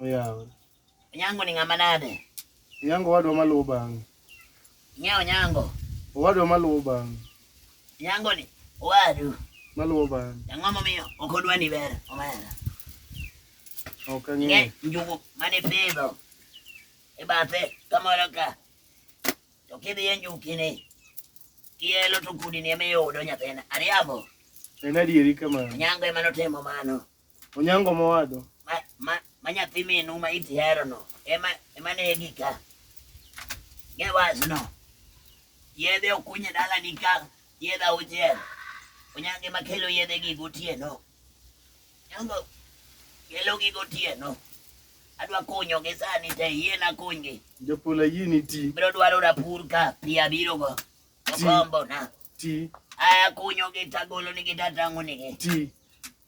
Oyawa. Onyango ni ng'ama nade? Onyango wadwa maluwo bang'e. Ng'e Onyango? Owadwa maluwo bang'e. Onyango ni owadu? Maluwo bang'e. Ang'o momiyo ok odwa ni ber omera? Ok ang'eyo. Njugu mane pidho e bathe kamoro ka to kidhi e njukini kielo to kudini ema iyudo nyathina. Ariambo? En adieri kamano. Onyango ema notimo mano. Onyango mowadwa. Ma ma ma nyathi minu ma iti hero no. Ema ema ne gika. Ge was no. Yedhe okunye dala ni ka yedhe auchiel. Onyange ma kelo yedhe gi gotieno. Onyango kelo gi gotieno. Adwa kunyo gi sani te yie na kunygi. Jopula yie ni ti. Biro dwaro rapur ka pi abiro go. Ti. Okombo na. Ti. Aya kunyo gi tagolo ni gi tatango ni gi. Ti.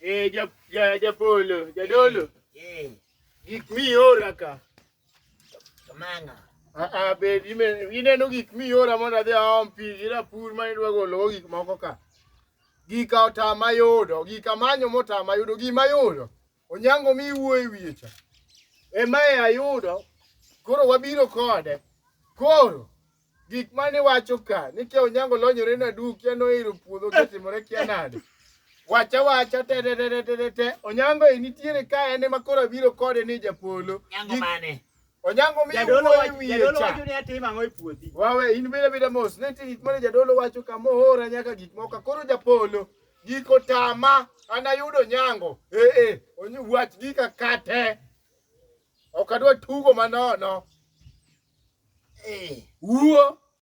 Eh, ja, ja, japolo, jadolo. Eh. Gik miora ka. Kamanga. Ah, ah, be ineno gik miora mondo adhi aom pi gi rapur ma idwa gologo gik moko ka. Gika otama yudo, gika manyo motama yudo, gima yudo. Onyango mi iwuoyo e wiye cha. Emae ayudo koro wabiro kode. Koro gik mane wacho ka ni kia Onyango lonyore na du kia nohero puodho kotimore kia nade. Wacha wacha te te te te te. Onyango e nitiere ka en ema koro abiro kode ni japolo. Onyango mane? Onyango mi jadolo wacho ni atim ang'o e puothi? Wawe in bile bile mos ne tin mane jadolo wacho kama ohora nyaka gik moko koro japolo giko tama anayudo nyango eh eh onyi wach gika kate ok adwa tugo manono eh wuo